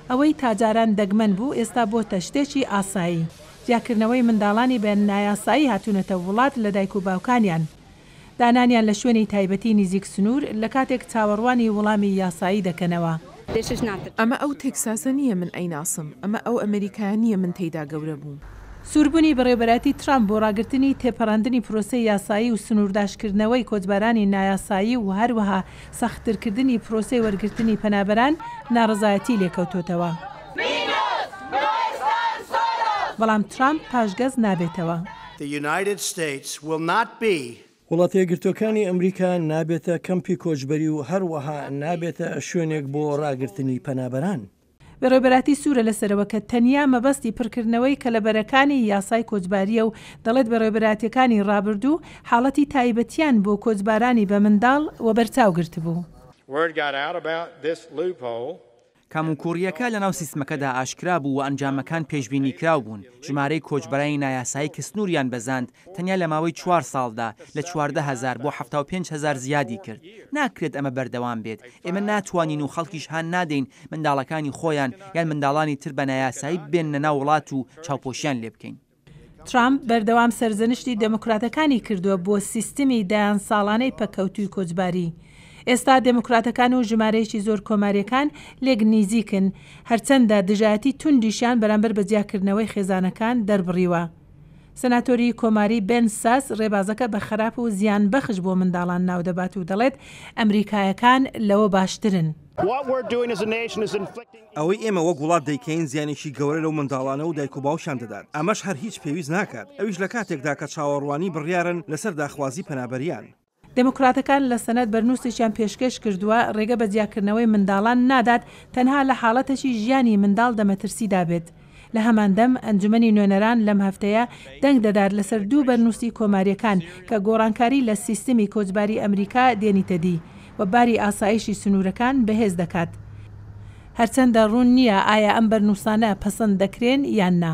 ئەوەی تاجاران دەگمەن بوو ئێستا بۆتە شتێکی ئاسایی، جیاکردنەوەی منداڵانی بە نایاسایی هاتوونەتە وڵات لە دایک و باوکانیان، دانانیان لە شوێنی تایبەتی نزیک سنوور، لە کاتێک چاوەڕوانی وڵامی یاسایی دەکەنەوە. ئەمە ئەو تێکساسە نییە من ئەیناسم، ئەمە ئەو ئەمەریکایە نییە من تێیدا گەورە بووم. سووربوونی بەڕێوەبەرایەتی ترامپ بۆ ڕاگرتنی تێپەڕاندنی پرۆسەی یاسایی و سنوورداشکردنەوەی کۆچبەرانی نایاسایی و هەروەها سەختترکردنی پرۆسەی وەرگرتنی پەنابەران ناڕەزایەتی لێکەوتۆتەوە. بەڵام ترامپ پاشگەز نابێتەوە. وڵاتەیەکگرتووەکانی ئەمریکا نابێتە کەمپی کۆچبەری و هەروەها نابێتە شوێنێک بۆ ڕاگرتنی پەنابەران. بەڕێوبەراتی سوورە لەسەرەوە کە تەنیا مەبەستی پڕکردنەوەی کەلەبەرەکانی یاسای کۆچبارییە و دەڵێت بەڕێوبەراتییەکانی ڕابردوو حاڵەتی تایبەتیان بۆ کۆچبارانی بە منداڵ وەبەرچاو گرتبوو. کەموکووڕییەکە لەناو سیستمەکەدا ئاشکرا بوو و ئەنجامەکان پێشبینیکراو بوون، ژمارەی کۆچبەرانی نایاسایی کە سنووریان بەزاند تەنیا لە ماوەی چوار ساڵدا لە چواردە هەزار بۆ حەفتا و پێنج هەزار زیادی کرد. ناکرێت ئەمە بەردەوام بێت. ئێمە ناتوانین و خەڵکیش هان نادەین منداڵەکانی خۆیان یان منداڵانی تر بە نایاسایی ببێننە ناو وڵات و چاوپۆشیان لێ بکەین. ترامپ بەردەوام سەرزەنشتی دێموکراتەکانی کردووە بۆ سیستمی دەیان ساڵانەی پەککەوتووی کۆچباری. ئێستا دێموکراتەکان و ژمارەیەکی زۆر کۆمارییەکان لێک نیزیکن، هەرچەندە دژایەتی توندیشیان بەرامبەر بە جیاکردنەوەی خێزانەکان دەربڕیوە. سناتۆری کۆماری بێن ساس ڕێبازەکە بە خراپ و زیانبەخش بۆ منداڵان ناودەبات و دەڵێت ئەمریکایەکان لەوە باشترن. ئەوەی ئێمە وەک وڵات دەیکەین زیانێکی گەورە لەو منداڵانە و دایک و باوکیان دەدات، ئەمەش هەر هیچ پێویست ناکات، ئەویش لە کاتێکدا کە چاوەڕوانی بڕیارن لەسەر داخوازی پەنابەریان. دێموکراتەکان لە سەنەد بەرنووسێکیان پێشکێش کردووە، رێگە بە جیاکردنەوەی منداڵان نادات تەنها لە حاڵەتەکی ژیانی منداڵ دە مەترسیدا بێت. لە هەمان دەم، ئەنجومەنی نوێنەران لەم هەفتەیە دەنگ دەدات لەسەر دوو بەرنووسی کۆمارییەکان کە گۆڕانکاری لە سیستمی کۆچباری ئەمریکا دێنیتە دی و باری ئاسایشی سنوورەکان بەهێز دەکات، هەرچەندە روون نییە ئایا ئەم بەرنووسانە پەسەند دەکرێن یان نا.